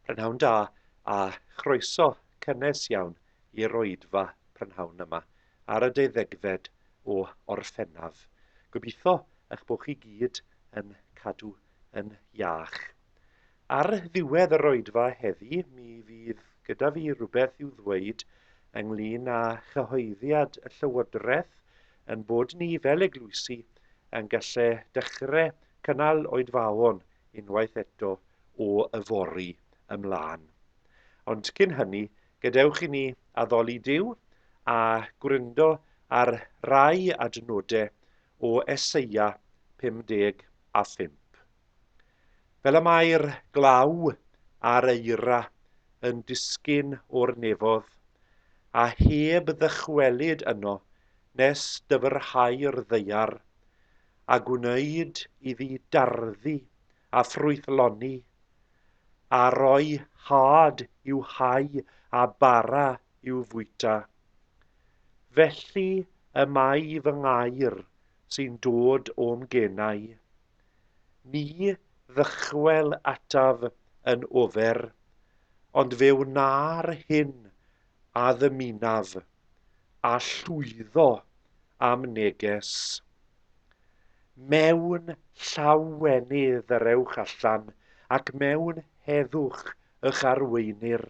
Prynhawn da a chroeso cynnes iawn i'r oedfa prynhawn yma ar y deuddegfed o Orffennaf. Gobeithio eich bod chi gyd yn cadw yn iach. Ar ddiwedd yr oedfa heddi mi fydd gyda fi rhywbeth i'w ddweud ynglyn â chyhoeddiad y Llywodraeth yn bod ni fel eglwysi yn gallu dechrau cynnal oedfaon unwaith eto o yfory ymlaen. Ond cyn hynny, gadewch i ni addoli Duw a gwryndo ar rai adnodau o Eseia 55. Fel y mae'r glaw a'r eira yn disgyn o'r nefodd, a heb ddychwelyd yno nes dyfrhau'r ddaear, a gwneud iddi darddu a ffrwythloni, a roi hâd i'w hau a bara i'w fwyta. Felly y mae fy ngair sy'n dod o'm genau. Ni ddychwel ataf yn ofer, ond fe wna'r hyn a ddymunaf, a llwyddo a'm neges. Mewn llawenydd yr ewch allan, ac mewn heddwch y'ch arweinir.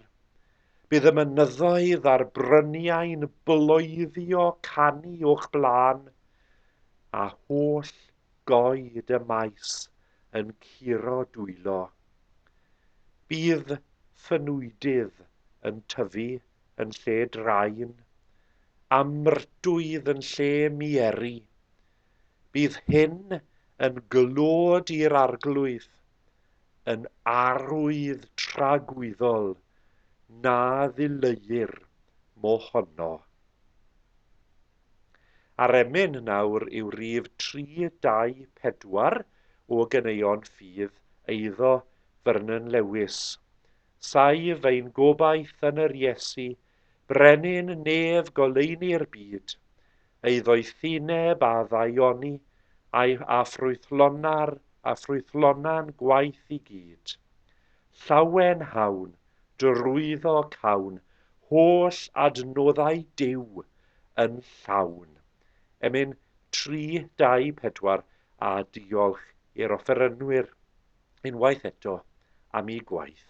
Bydd y mynyddoedd a'r bryniau'n bloeddio canu o'ch blaen, a holl goed y maes yn curo dwylo. Bydd ffynwydydd yn tyfu yn lle drain, a myrtwydd yn lle mieri. Bydd hyn yn glod i'r arglwydd, yn arwydd tragwyddol na ddileuir mohono. A'r emyn nawr yw rif tri, dau, pedwar o ganeuon ffydd eiddo Vernon Lewis. Saif ein gobaith yn yr Iesu, Brenin nef goleuni'r byd, ei ddoethineb a ddaioni, a'i a ffrwythlona'r a ffrwythlona'n gwaith i gyd. Llawen hawn, drwyddo cawn, holl adnoddau Duw yn llawn. Emyn 324 a diolch i'r offerynwyr unwaith eto am eu gwaith.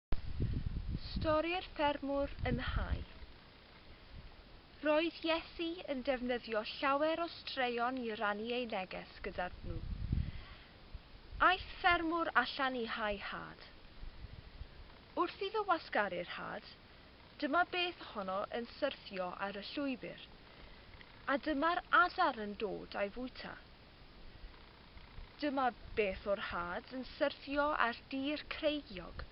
Stori'r Ffermwr yn y Hae. Roedd Iesu yn defnyddio llawer o straeon i rannu ei neges gyda nhw. Aeth ffermwr allan i hau had. Wrth iddo wasgaru'r had, dyma beth ohono yn syrthio ar y llwybr, a dyma'r adar yn dod a'i fwyta. Dyma beth o'r had yn syrthio ar dir creigiog,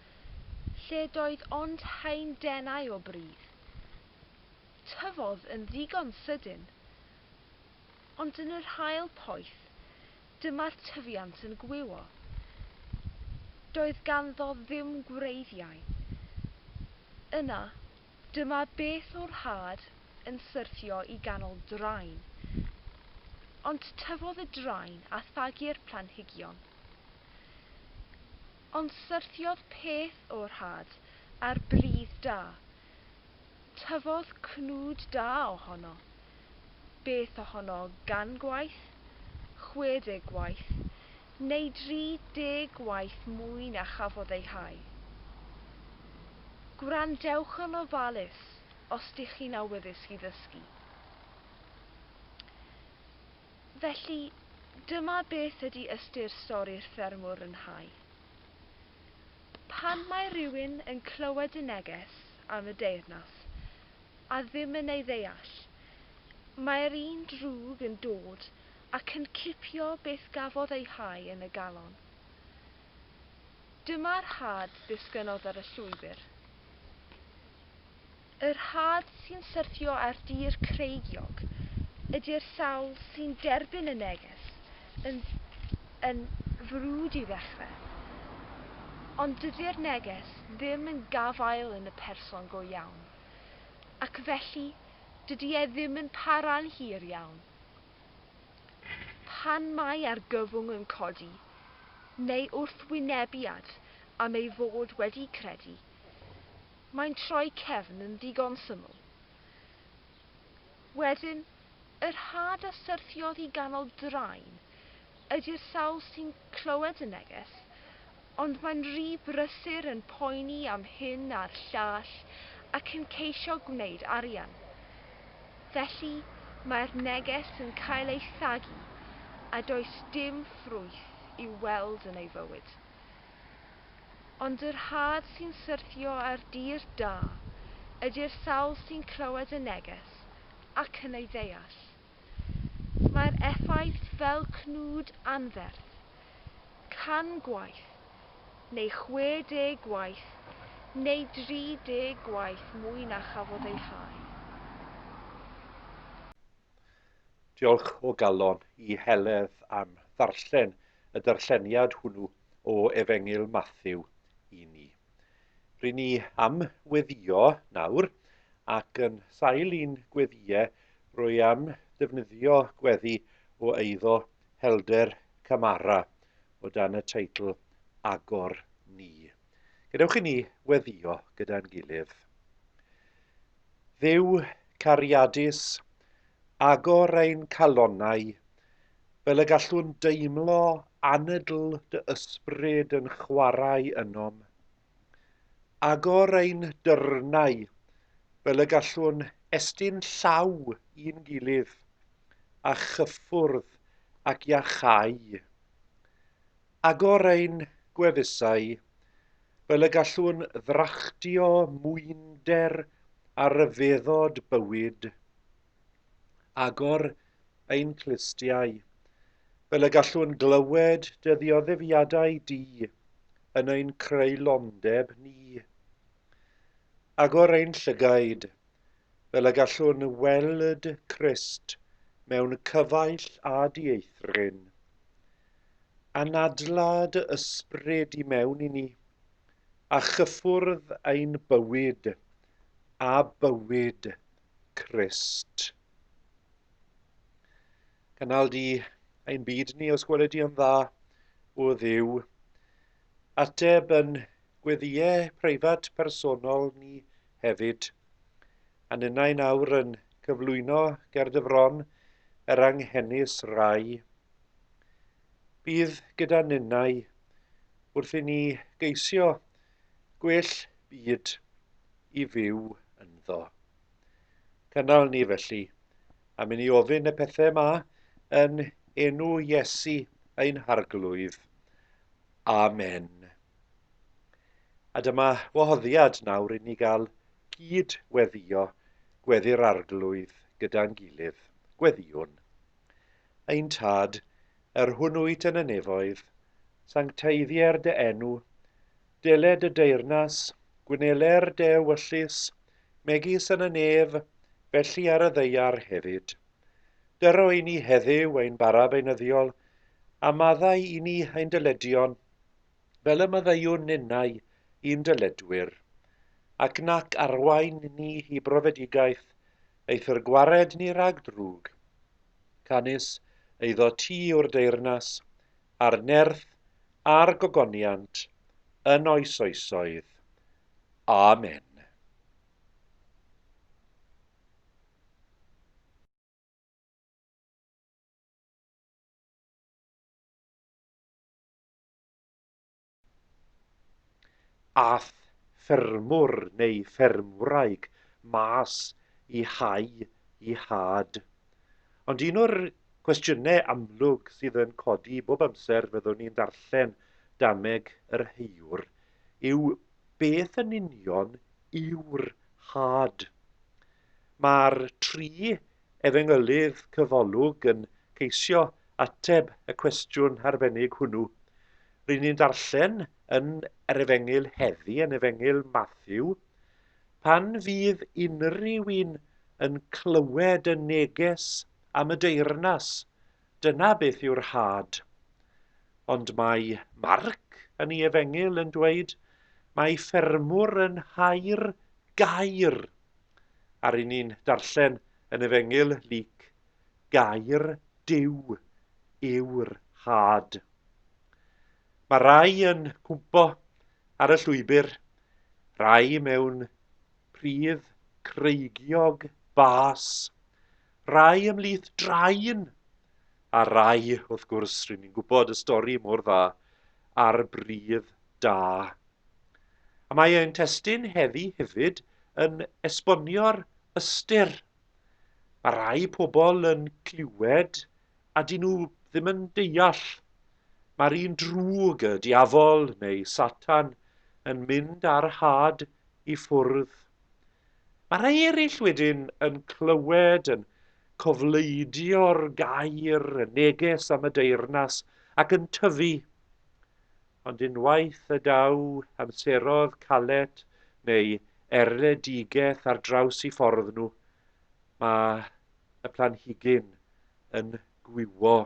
lle doedd ond haen denau o bridd. Tyfodd yn ddigon sydyn, ond yn yr haul poeth, dyma'r tyfiant yn gwywo. Doedd ganddo ddim gwreiddiau. Yna, Dyma beth o'r had yn syrthio i ganol drain. Ond tyfodd y drain a thagu'r planhigion. Ond syrthiodd peth o'r had ar bridd da. Tyfodd cnwd da ohono. Beth ohono gan gwaith? Chwe deg gwaith. Neu 30 gwaith mwy na chafodd ei hau. Gwrandewch yn ofalus os dych chi'n awyddus i ddysgu. Felly, dyma beth ydy ystyr stori'r ffermwr yn hau. Pan mae rhywun yn clywed y neges am y deyrnas a ddim yn ei ddeall, mae'r un drwg yn dod Ac yn cipio beth gafodd ei hau yn y galon. Dyma'r had ddisgynnodd ar y llwybr. Yr had sy'n syrthio ar dir creigiog ydi'r sawl sy'n derbyn y neges yn yn frwd i ddechrau. Ond dydi'r neges ddim yn gafael yn y person go iawn. Ac felly dydi e ddim yn para'n hir iawn Pan mae argyfwng yn codi, neu wrthwynebiad am ei fod wedi credu, mae'n troi cefn yn ddigon syml. Wedyn, yr had a syrthiodd i ganol drain ydy'r sawl sy'n clywed y neges, ond mae'n rhy brysur yn poeni am hyn a'r llall ac yn ceisio gwneud arian. Felly, mae'r neges yn cael ei thagu a does dim ffrwyth i'w weld yn ei fywyd. Ond yr had sy'n syrthio ar dir da ydy'r sawl sy'n clywed y neges ac yn ei ddeall. Mae'r effaith fel cnwd anferth, can gwaith, neu 60 gwaith, neu 30 gwaith mwy na chafodd ei hau. Diolch o galon i Heledd am ddarllen y darlleniad hwnnw o Efengyl Mathew i ni. Ry'n ni am weddio nawr, ac yn sail i'n gweddiau rwy am ddefnyddio gweddi o eiddo Helder Camara o dan y teitl Agor Ni. Gadewch i ni weddio gyda'n gilydd. Dduw cariadus, agor ein calonnau fel y gallwn deimlo anadl dy ysbryd yn chwarae ynom. Agor ein dyrnau fel y gallwn estyn llaw i'n gilydd, a chyffwrdd ac iachau. Agor ein gwefusau fel y gallwn ddrachdio mwynder a ryfeddod bywyd. agor ein clustiau, fel y gallwn glywed dy ddioddefiadau di yn ein creulondeb ni. Agor ein llygaid, fel y gallwn weld Crist mewn cyfaill a dieithryn. Anadla dy ysbryd i mewn i ni, a chyffwrdd ein bywyd a bywyd Crist. Canal di ein byd ni os gweled di yn dda, o ddiw. Ateb yn gweddiau preifat personol ni hefyd. A ninnau nawr yn cyflwyno ger dy fron yr anghenus rai. Bydd gyda ninnau wrth i ni geisio Gwell byd i fyw ynddo. Cynnal ni felly, am i ni ofyn y pethau yma yn enw Iesu ein Harglwydd. Amen. A dyma wahoddiad nawr i ni gael cyd-weddio gweddi'r Arglwydd gyda'n gilydd. Gweddiwn. Ein Tad, yr hwn wyt yn y nefoedd, sancteiddier dy enw, dele dy deyrnas, gwnele'r dy ewyllys, megis yn y nef, felly ar y ddeiar hefyd. Dyro i ni heddyw ein bara beunyddiol, a maddau i ni ein dyledion, fel y maddeuwn ninnau i'n dyledwyr, ac nac arwain ni i brofedigaeth, eithr gwared ni rhag drwg. Canys eiddo ti yw'r deyrnas, a'r nerth, a'r gogoniant, yn oes oesoedd. Amen. Aeth ffermwr neu ffermwraig mas i hau i had. Ond un o'r cwestiynau amlwg sydd yn codi bob amser fyddwn ni'n darllen dameg yr heuwr yw beth yn union yw'r had? Mae'r tri Efengylydd Cyfolwg yn ceisio ateb y cwestiwn arbennig hwnnw. Ry'n ni'n darllen yn yr Efengyl heddi, yn Efengyl Matthew, Pan fydd unrhyw un yn clywed y neges am y deyrnas, dyna beth yw'r rhad. Ond mae Marc yn ei Efengyl yn dweud, Mae ffermwr yn hau'r gair a ry'n ni'n darllen yn Efengyl Luc, Gair Duw yw'r had. Mae rai yn cwmpo ar y llwybr, rai mewn pridd creigiog bas, rai ymlith drain, a rai, wrth gwrs, rydyn ni'n gwybod y stori mor dda, ar bridd da. A mae ein testun heddi hefyd yn esbonio'r ystyr. Mae rhai pobl yn clywed a dyn nhw ddim yn deall. Mae'r un drwg, y diafol neu Satan, yn mynd ar had i ffwrdd. Mae rhai eraill wedyn yn clywed, yn cofleidio'r gair, y neges am y deyrnas, ac yn tyfu. Ond unwaith y daw amseroedd calet neu erledigaeth ar draws eu ffordd nhw, mae y planhigyn yn gwywo.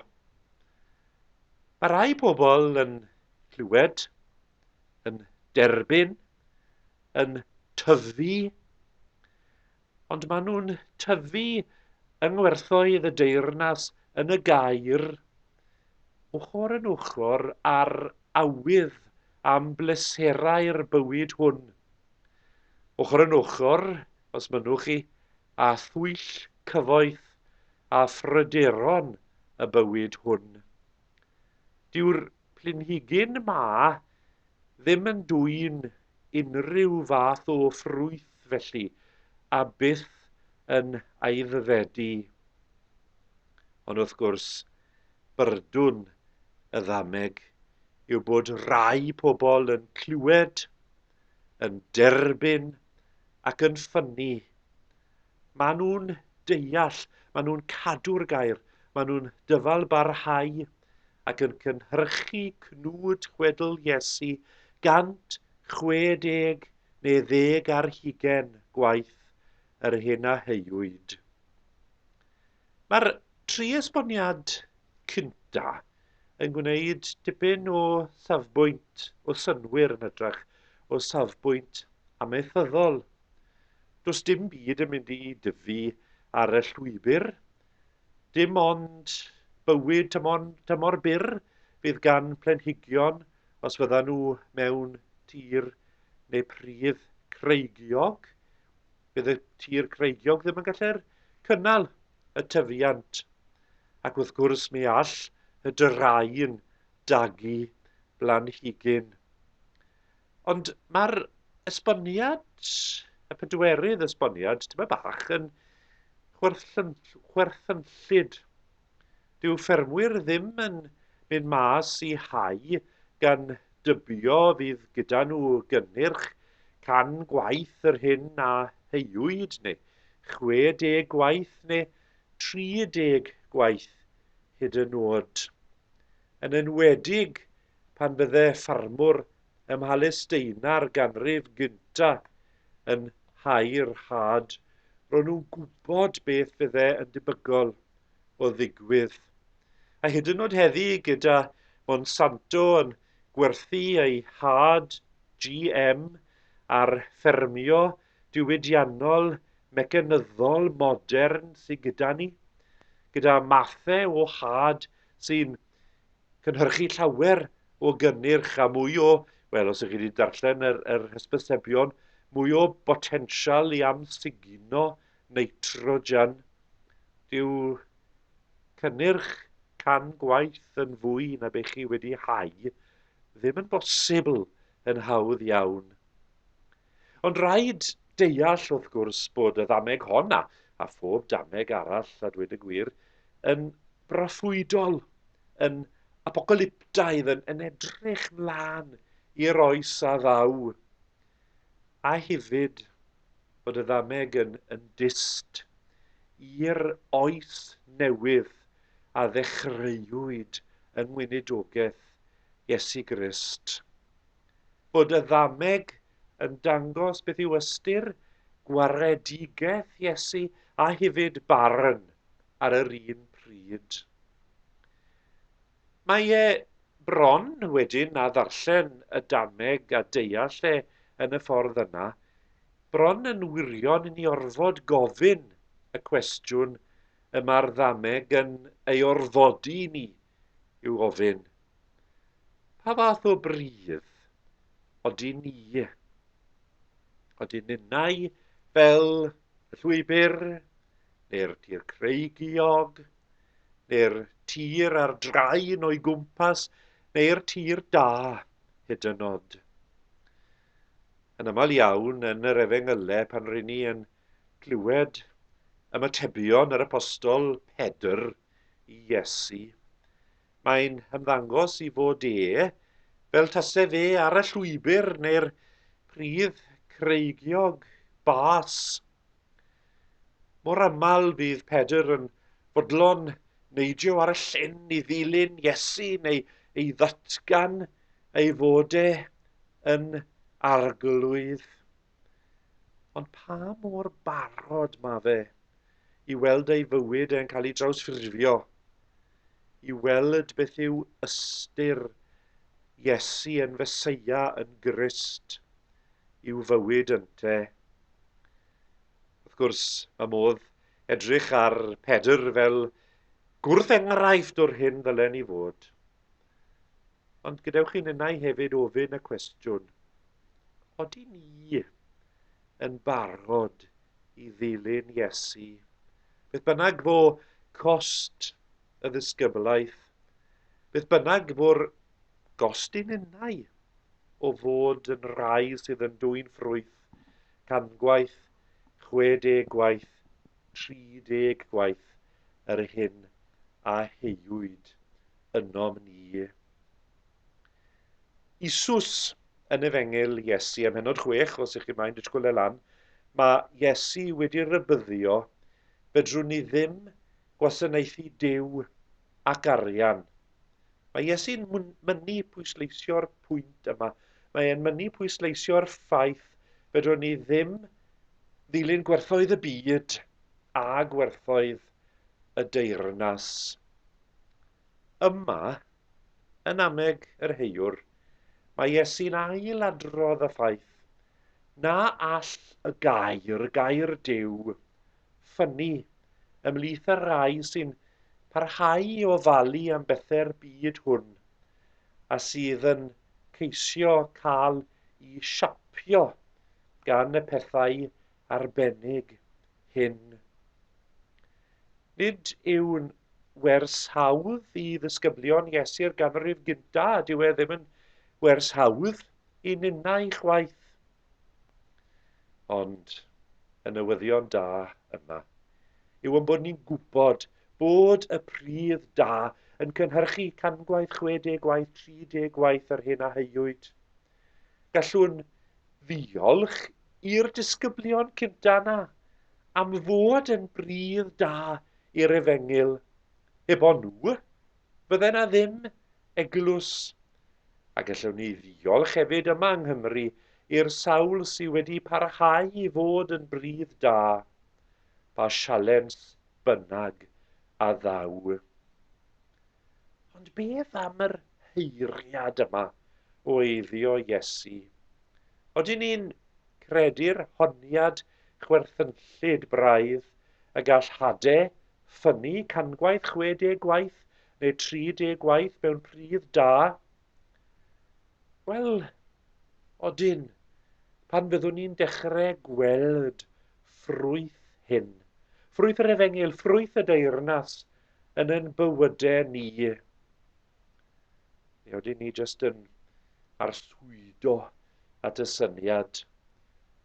Mae rhai pobl yn clywed, yn derbyn, yn tyfu, Ond maen nhw'n tyfu yng ngwerthoedd y deyrnas yn y gaer, ochr yn ochr â'r awydd am bleserau'r bywyd hwn. Ochr yn ochr, os mynnwch chi, â thwyll cyfoeth a phryderon y bywyd hwn. Dyw'r planhigyn 'ma ddim yn dwyn unrhyw fath o ffrwyth felly, a byth yn aeddfedu. Ond wrth gwrs, byrdwn y ddameg yw bod rhai pobl yn clywed, yn derbyn ac yn ffynnu Maen nhw'n deall, maen nhw'n cadw'r gair, maen nhw'n dyfalbarhau ac yn cynhyrchu cnwd chwedl Iesu 160 neu ddeg ar hugain gwaith yr hyn a heuwyd. Mae'r tri esboniad cynta yn gwneud dipyn o safbwynt o synnwyr yn hytrach o safbwynt amaethyddol. Does dim byd yn mynd i dyfu ar y llwybr, dim ond bywyd tymor, tymor byr fydd gan planhigion os fyddan nhw mewn tir neu pridd creigiog. fydd y tir creigiog ddim yn gallu'r cynnal y tyfiant. Ac wrth gwrs mi all y dyrau'n dagu blanhigyn. Ond mae'r esboniad, y pedwerydd esboniad, tyma bach yn chwerthynllyd Dyw ffermwyr ddim yn mynd mas i hau gan dybio fydd gyda nhw gynnyrch 100 gwaith yr hyn a heuwyd neu 60 gwaith neu 30 gwaith hyd yn oed. Yn enwedig pan fydde ffarmwr ym Mhalesteia'r ganrif gyntaf yn hau'r had, ro'n nhw'n gwybod beth fydde yn debygol. o ddigwydd. A hyd yn oed heddi gyda Monsanto yn gwerthu ei had GM ar ffermio diwydiannol mecanyddol modern sydd gyda ni, gyda mathau o had sy'n cynhyrchu llawer o gynnyrch a mwy o, wel os ych chi wedi darllen yr, yr hysbysebion, mwy o botensial i amsugno nitrogen, dyw cynnyrch can gwaith yn fwy na be chi wedi hau ddim yn bosibl yn hawdd iawn. Ond rhaid deall wrth gwrs bod y ddameg hon a, a phob dameg arall a dweud y gwir yn broffwydol, yn apocalyptaidd, yn, yn edrych mlaen i'r oes a ddaw. A hefyd bod y ddameg yn yn dyst i'r oes newydd a ddechreuwyd yng Ngweinidogaeth Iesu Grist. Bod y ddameg yn dangos beth yw ystyr gwaredigaeth Iesu a hefyd barn ar yr un pryd. Mae e bron wedyn â ddarllen y dameg a deall e yn y ffordd yna, bron yn wirion i ni orfod gofyn y cwestiwn y mae'r ddameg yn ei orfodi i ni i'w ofyn, Pa fath o bridd odyn ni? Odyn ninnau fel y llwybr neu'r tir creigiog? neu'r tir ar draen o'i gwmpas, neu'r tir da, hyd yn nod. Yn aml iawn, yn yr efengylau, pan ryn ni yn clywed ymatebion yr apostol Pedr i Iesu, mae'n hymddangos i fod e fel tase fe ar y llwybr neu'r pridd creigiog bas Mor aml fydd Pedr yn fodlon neidio ar y llyn i ddilyn Iesu neu ei ddatgan ei fod e yn arglwydd. Ond pa mor barod mae fe i weld ei fywyd e'n cael ei drawsffurfio i weld beth yw ystyr Iesu yn Feseia, yn Grist, i'w fywyd ynte. Wrth gwrs, mae modd edrych ar Pedr fel gwrth enghraifft o'r hyn ddylen ni fod. Ond gadewch i ninnau hefyd ofyn y cwestiwn, oeddi ni yn barod i ddilyn Iesu? Beth bynnag fo cost y ddisgyblaeth, beth bynnag fo'r gost i ninnau o fod yn rai sydd yn dwy'n ffrwyth, cangwaith, 60 gwaith, 30 gwaith yr hyn a heiwyd ynom ni. Isus yn Efengyl Iesu ym Mhenod 6, os ych chi mae'n disgwyl e lan, mae Iesu wedi rybyddio, fedrwn ni ddim gwasanaethu Duw ac arian. Mae Iesu'n mynnu pwysleisio'r pwynt yma. Mae e'n mynnu pwysleisio'r ffaith fedrwn ni ddim ddilyn gwerthoedd y byd a gwerthoedd y deyrnas. Yma, yn anneg yr heiwr, mae Iesu'n ail-adrodd y ffaith na all y gair, gair Duw, ffynnu ymhlith y rhai sy'n parhau i ofalu am bethau'r byd hwn a sydd yn ceisio cael i siapio gan y pethau arbennig hyn. Nid yw'n wers hawdd i ddisgyblion Iesu'r ganrif gyntaf, a dyw e ddim yn wers hawdd i ninnau chwaith. Ond y newyddion da yma yw yn bod ni'n gwybod bod y pridd da yn cynhyrchu cangwaith, 60 gwaith, 30 gwaith yr hyn a heuwyd. Gallwn ddiolch i'r disgyblion cynta' 'na am fod yn bridd da i'r efengyl, heb o' nhw, fydde 'na ddim eglws. A gallwn ni ddiolch hefyd yma yng Nghymru i'r sawl sy' wedi parhau i fod yn bridd da, pa sialens bynnag a ddaw. Ond beth am yr heiriad yma o eiddio Iesu? Odyn ni'n credu'r honiad chwerthynllyd braidd y gall hade ffynnu cangwaith 60 gwaith neu 30 gwaith mewn pridd da? Wel, odyn, pan fyddwn ni'n dechrau gweld ffrwyth hyn, ffrwyth yr efengyl, ffrwyth y deyrnas, yn ein bywydau ni. Neu oedden ni jyst yn arswydo at y syniad.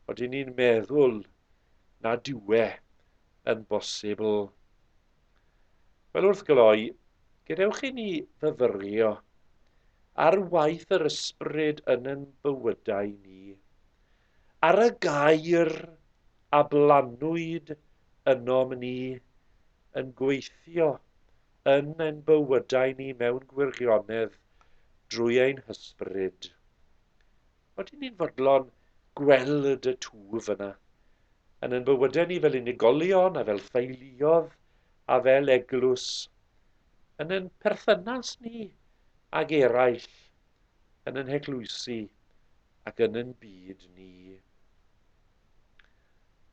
Oedden ni'n meddwl na diwe yn bosibl. Wel wrth gloi, gadewch i ni fyfyrio ar waith yr ysbryd yn yn bywydau ni. Ar y gair a blannwyd ynom ni yn gweithio yn ein bywydau ni mewn gwirionedd drwy ein hysbryd. Oedyn ni'n fodlon gweld y twf yna, yn ein bywydau ni fel unigolion a fel theuluodd a fel eglwys, yn ein perthynas ni ag eraill yn ein heglwysi ac yn ein byd ni.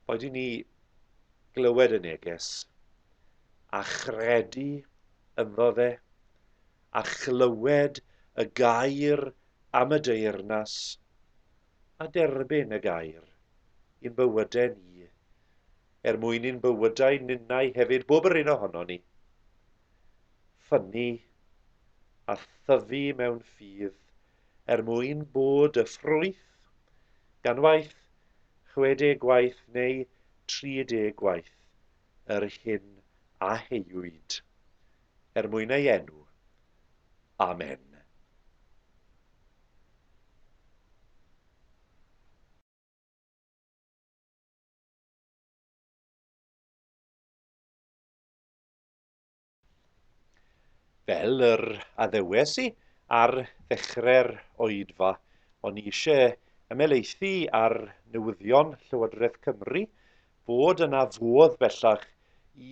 Boed i ni glywed y neges a chredu ynddo fe a chlywed y gair am y deyrnas a derbyn y gair i'n bywydau ni, er mwyn i'n bywydau ninnau hefyd, bob yr un ohono ni, ffynnu a thyfu mewn ffydd er mwyn bod y ffrwyth gan waith, 60 gwaith neu 30 gwaith yr hyn a heuwyd er mwyn ei enw. Amen. Fel yr addewes i ar ddechrau'r oedfa, o'n i eisiau ymhelaethu ar newyddion Llywodraeth Cymru bod yna fodd bellach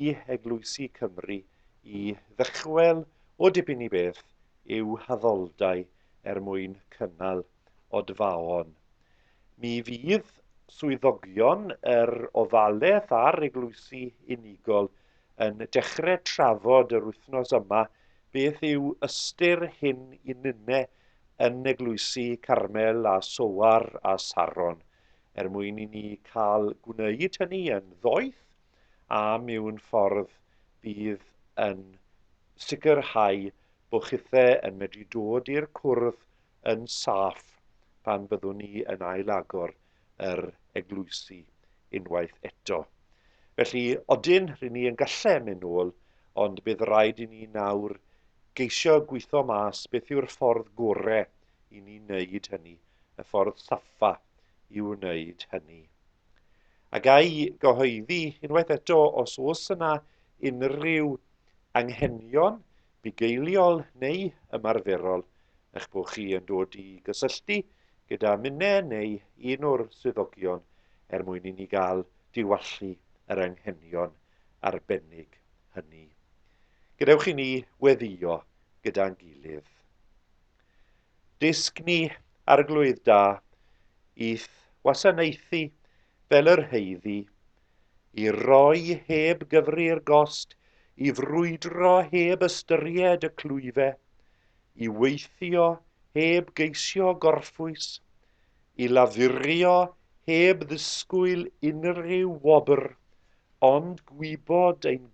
i eglwysi Cymru i ddychwel o dipyn i beth i'w haddoldai er mwyn cynnal Odfaon. Mi fydd swyddogion yr ofalaeth a'r eglwysi unigol yn dechrau trafod yr wythnos yma beth yw ystyr hyn i nyne yn eglwysi Carmel a Soar a Saron, er mwyn i ni cael gwneud hynny yn ddoeth a miwn ffordd bydd yn sicrhau bo chithe yn medru dod i'r cwrdd yn saff pan fyddwn ni yn ail-agor yr eglwysi unwaith eto. Felly, odyn, rydyn ni yn gallu mynd nôl, ond bydd rhaid i ni nawr geisio gweithio mas beth yw'r ffordd gorau i ni wneud hynny, y ffordd saffa i wneud hynny. A gai gyhoeddi unwaith eto os oes yna unrhyw anghenion bugeiliol neu ymarferol eich bod chi yn dod i gysylltu gyda minne neu un o'r swyddogion er mwyn i ni gael diwallu yr anghenion arbennig hynny. Gadewch i ni weddio gyda'n gilydd. Dysg ni arglwydd da i'th wasanaethu fel yr heiddi i roi heb gyfri'r gost, i frwydro heb ystyried y clwyfe, i weithio heb geisio gorffwys, i lafurio heb ddisgwyl unrhyw wobr, ond gwybod ein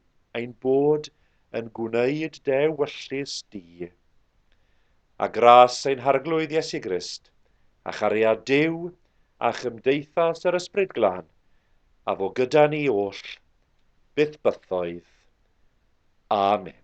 ein bod yn gwneud dy ewyllys di. A gras ein Harglwydd Iesu Grist, a chariad Duw, a chymdeithas yr Ysbryd Glân, a fo gyda ni oll, byth bythoedd. Amen.